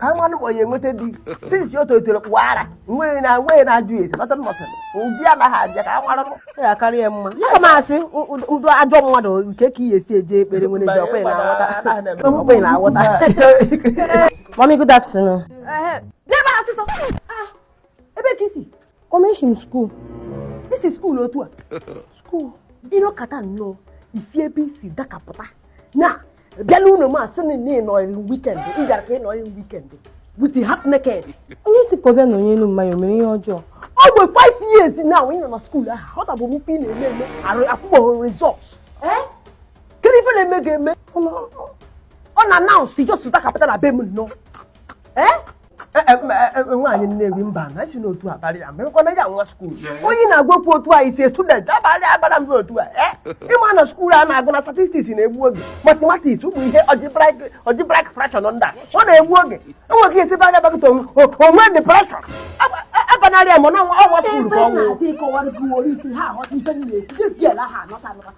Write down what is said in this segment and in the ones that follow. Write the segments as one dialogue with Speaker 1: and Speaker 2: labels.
Speaker 1: ka m manụ ma ọ ya-enweta di since o tolitere puwa ara nweghị onye na-ajụ ya esi nọtọ nọtọ ụdị anaghị abịa ka m manụ ma ọ ya-akarị ya mma ya
Speaker 2: ma asị m bụ ajọ mmadụ nke ka ihe esi eje ekpere Wednesday ọkwa ị na-aghọta ọkwa ị na-aghọta Mommy, good
Speaker 3: afternoon. N'ebe
Speaker 2: asịsọ ebe ka i si Mommy
Speaker 3: esi m skuul i si
Speaker 2: skuul otu a skuul ị nọkata nnọọ i si ebe i si dakapụta na bịala ụlọ m asị na ị nọrịrị weekend ị bịara ka ị nọrịrị weekend with the half naked. onye si kọbịa
Speaker 3: na onye elu mmanya mere ihe ọjọọ over 5
Speaker 2: years now ị nọ na skuul ahụ ọ tabụ mpe ị na-eme eme arụ akwụgbọghị result kedu ife na-eme ga-eme unannounced just dakapụta na be m nnọọ
Speaker 1: nwaanyị Nnewi mbanụ esina otu a abarị ya merekwana ya nwa skuul onye a na-agwa okwu otu a isi student abarị abara mba otu a eh? ị ma na skuul a na-agụ na statistics na-egbu oge mathematics ụmụ ihe algebraic fraction ndị a ọ na-egbu oge enweghị esi be anya bakata o nwee depression abanarị ya ị ma na ọ nwa skuul ka ọnwụ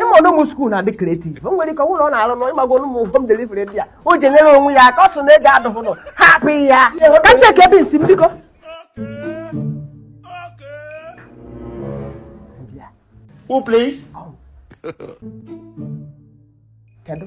Speaker 2: ị ma
Speaker 1: ụmụ skuul na-adị creative o nwere ike o nwee ọrụ ọ na-arụ nọ ị mago ụmụ home delivery ndị a o ji enyere onwe ya aka ọ sị na ego adụghị nọ hapụ ya ka m cheke ebe nsi
Speaker 2: m biko
Speaker 1: Who please? Kedu?